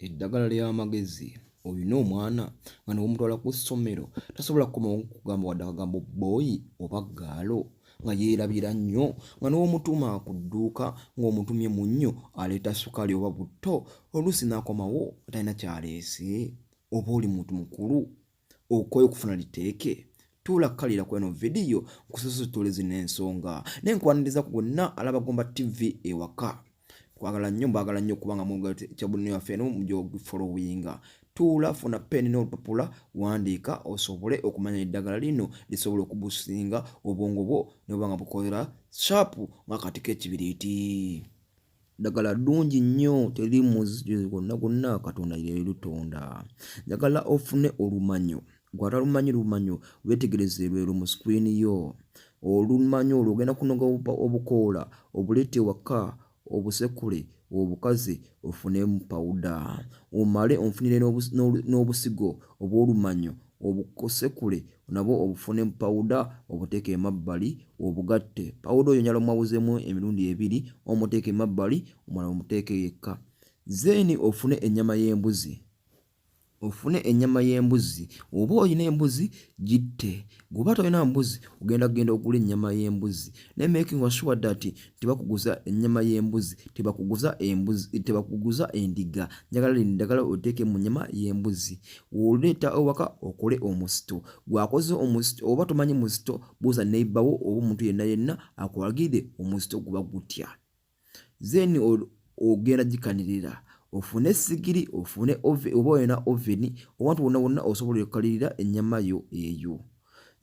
eddagala ly'amagezi olina omwana nga newomutwala ku ssomero tasobola kukomawo kugamba wadde akagambo bboyi oba gaalo nga yeerabira nnyo nga n'omutuuma ku dduuka ng'omutumye mu nnyo aleeta sukaali oba butto oluusi n'akomawo talina kyaleese oba oli muntu mukulu okwayo okufuna liteeke tuula kukalira kweno vidiyo nkusosotola zino ensonga naye nkwaniriza ku gonna alaba gomba tv ewaka twagala nnyo mbagala nnyo okubanga mukyabulino yaffe eno mujogifolowinga tuula funa peni n'olupapula wandiika osobole okumanya eddagala lino lisobola okubusinga obwongo bwo nobanga bukolera shapu nga kati kekibiriiti ddagala ddungi nnyo teri muzzi gwonna gwonna katonda yeri lutonda njagala ofune olumanyo gwatalumanyi lumanyo wetegereze lwero mu sikwini yo olumanyo olwo ogenda kunoga obukoola obuleete waka obusekule obukazi ofunemu pawuda omale onfunire n'obusigo obw'olumanyo obukosekule nabwo obufune mu pawuda obuteeke emabbali obugatte pawuda oyo nyala omwawuzemu emirundi ebiri omuteeke emabbali omala omuteeke yekka zeeni ofune ennyama y'embuzi ofune ennyama y'embuzi oba olina embuzi gitte gwoba tolina mbuzi ogenda kugenda okula ennyama y'embuzi naye making sure that tebakuguza ennyama y'embuzi tebakuguza embuzi tebakuguza endiga njagala lino ddagala oteeke mu nnyama y'embuzi woleeta ewaka okole omusito gwakoze omusito oba tomanyi musito buuza neibawo oba omuntu yenna yenna akulagire omusito guba gutya then ogenda gikanirira ofune sigiri ofune oba olina oveni owantu wonna wonna osobola okukalirira ennyama yo eyo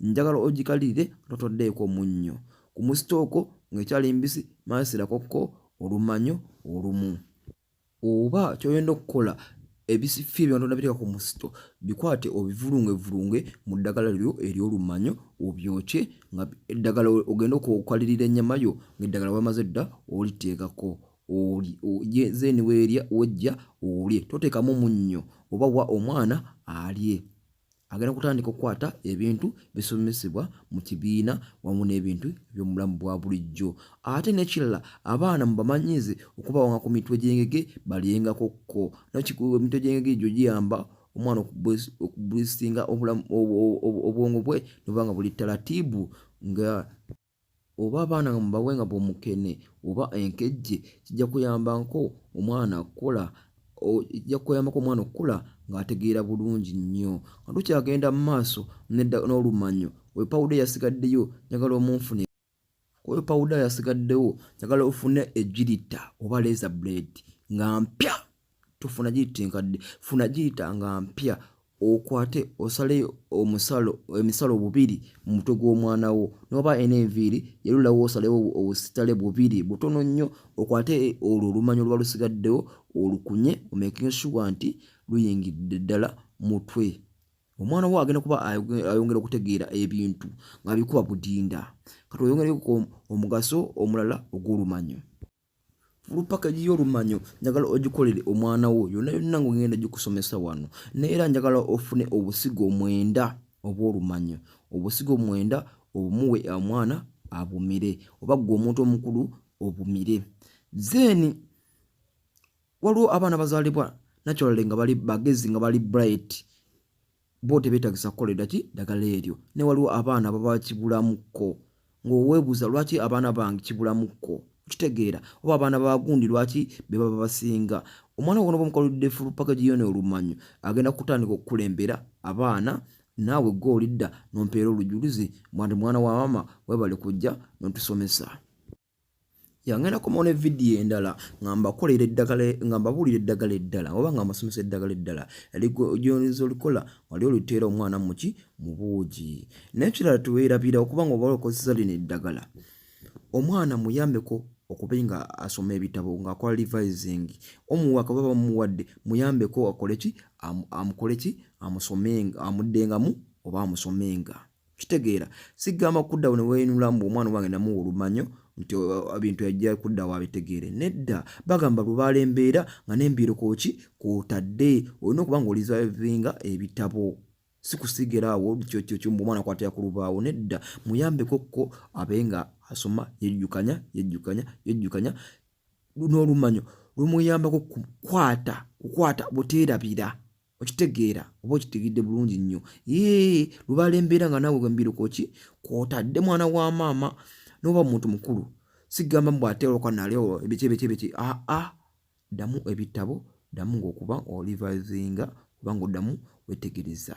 njagala ogikalirire totoddeeko munnyo ku musitooko ng'ekyali mbisi maasirakokkko olumanyo olumu oba kyoyenda okukola ebisifi ebyonoona biteeka ku musito bikwate obivulungevulunge mu ddagala lyo ery'olumanyo obyokye nga eddagala ogenda okukalirira ennyama yo ng'eddagala wamaze dda oliteekako olye zeeni weerya wejja olye toteekamu munnyo oba wa omwana alye agenda kutandika okukwata ebintu bisomesebwa mu kibiina wamu n'ebintu eby'omubulamu bwa bulijjo ate n'ekirala abaana mubamanyize okubawanga ku mitwe gy'engege balyengako kko nakikuwa emitwe gy'engege egyo giyamba omwana okubulisinga obwongo bwe noba nga buli talatiibu nga oba abaana nga mubawe nga bwomukene oba enkejje kijja kuyambako omwana kukula kijja kuyambako omwana okukula ng'ategeera bulungi nnyo nga tukyagenda mu maaso n'olumanyo oyo pawuda eyasigaddeyo njagala omunfune oyo pawuda yasigaddewo njagala ofune egirita oba leza blade nga mpya tofuna giyita enkadde funa giyita nga mpya okwate osale omusalo emisalo bubiri mu mutwe gw'omwana wo n'oba ena enviiri yerulawo osalewo obusitale bubiri butono nnyo okwate olwo olumanyi oluba lusigaddewo olukunye omakinga shuwa nti luyingidde ddala mutwe omwana wo agenda kuba ayongera okutegeera ebintu nga bikuba budinda kati oyongereko omugaso omulala ogw'olumanyo olupakagi y'olumanyo njagala ogikolere omwana wo yonna yonna ngaogenda gikusomesa wano naye era njagala ofune obusigo omwenda obw'olumanyo obusigo omwenda obumuwe omwana abumire oba ggwe omuntu omukulu obumire zeeni waliwo abaana bazaalibwa naturally nga bali bagezi nga bali bright bo tebetagisa kukolera ki ddagala eryo ne waliwo abaana baba kibulamukko ng'oweebuuza lwaki abaana bange kibulamukko okitegeera oba abaana bagundi lwaki be baba basinga omwana wono bamukolodde fulu paka giyona olumanyo agenda kutandika okukulembera abaana naawe gwe olidda nompeera olujuluzi mwandi mwana wa maama webale kujja notusomesa yangenda komawo ne vidiyo endala nga mbakolera eddagala nga mbabuulira eddagala eddala oba nga mbasomesa eddagala eddala lyonza olikola wali oliteera omwana muki mu buugi nekirala tuweerabira okuba nga oba okozesa lino eddagala omwana muyambeko okuba nga asoma ebitabo ngaakola revising omuwa kaba bamuwadde muyambeko akoleki amukoleki amusomenga amuddengamu oba amusomenga kitegeera sigamba kuddawo ne weenula mbu omwana wange namuwa olumanyo nti ebintu yajja kuddawo abitegeere nedda bagamba lubaala embeera nga n'embiiro kwoki kwotadde olina okuba nga olizavinga ebitabo sikusigera awo kyokyo mbu omwana kwatira ku lubaawo nedda muyambeko kko abe nga asoma yejjukanya yejjukanya yejjukanya n'olumanyo lumuyambako kukwata kukwata buteerabira okitegeera oba okitegedde bulungi nnyo ee lubaala embeera nga naawe wembirukoki kwotadde mwana wa maama noba muntu mukulu sigamba mbu ate olwoka naleo ebiki ebiki ebiki aa ah, ah. ddamu ebitabo ddamu ngaokuba olivazinga kubanga oddamu wetegereza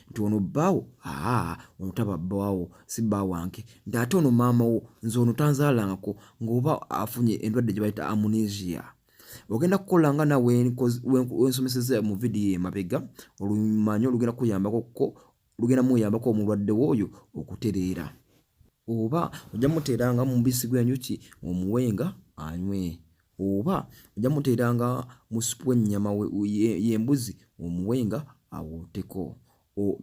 nti ono bbaawo aa ono taba bbaawo si bbaawo wange nti ate ono maama wo nze ono tanzaalangako ng'oba afunye endwadde gye bayita amunesia ogenda kukola nga na wensomeseza mu vidiyo emabega olumanyi olugenda kuyambako ko lugenda muyambako omulwadde wo oyo okutereera oba ojja muteeranga mubisi gwenjuki omuwenga anywe oba ojja muteeranga mu supu w'ennyama y'embuzi omuwenga awoteko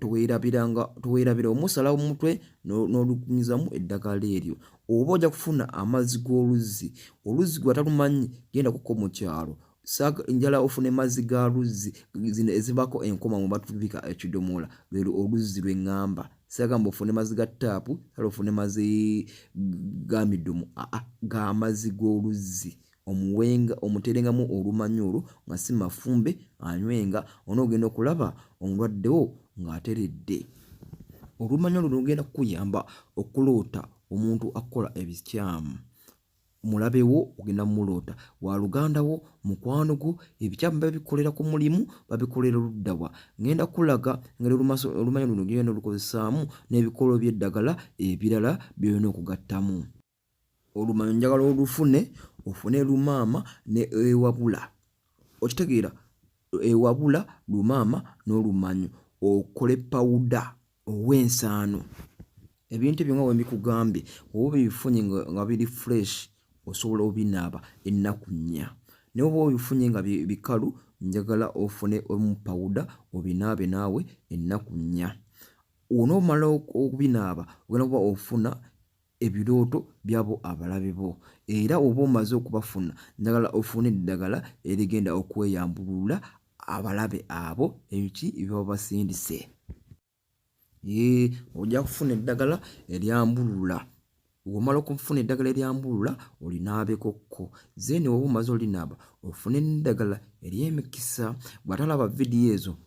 toweerabira omusala omutwe n'olukunyizamu eddagala eryo oba ojja kufuna amazzi g'oluzzi oluzzi gwe atalumanyi genda kuko mu kyalo njala ofune mazzi ga luzzi zino ezibaako enkoma mu batubika ekidomola lwero oluzzi lwe ŋŋamba sagamba ofune mazi ga taapu sala ofune mazi ga midumu aa ga mazi g'oluzzi omuwenga omuterengamu olumanyi olwo nga si mafumbe anywenga onoogenda okulaba omulwaddewo ng'ateredde olumanya luno lugenda kukuyamba okuloota omuntu akukola ebikyamu mulabe wo ogenda mumuloota waluganda wo mukwano gwo ebikyamu babikolera ku mulimu babikolera oluddawa ngenda kulaga ngeri olumanya luno gyogenda olukozesaamu n'ebikolo by'eddagala ebirala byolina okugattamu olumanyo njagala olufune ofune lumaama ne ewabula okitegeera ewabula lumaama n'olumanyo okole pawuda ow'ensaano ebintu ebyo nga bwe mbikugambye oba obifunye nga biri fresh osobola obinaaba ennaku nnya naye oba obifunye nga bikalu njagala ofune omu pawuda obinaabe naawe ennaku nnya onoomala okubinaaba ogenda kuba ofuna ebirooto byabo abalabe bo era oba omaze okubafuna njagala ofune eddagala erigenda okweyambulula abalabe abo ebiki ebyaba basindise ee ojja kufuna eddagala eryambulula womala okufuna eddagala eryambulula olinaabekokko zeni oba omaze olinaaba ofune neddagala eryemikisa bwatalaba vidiyo ezo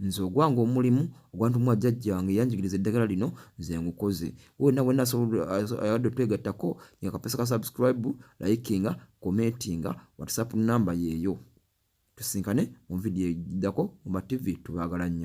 Nze ogwange omulimu ogwantumwa jjajja wange yanjigiriza eddagala lino nze ngukoze. Wowe nawe nasobola ayagala otwegattako nga kapesa ka subscribe, likinga, commentinga, WhatsApp namba yeeyo. Tusinkane mu video eddako mu TV tubagala nnyo.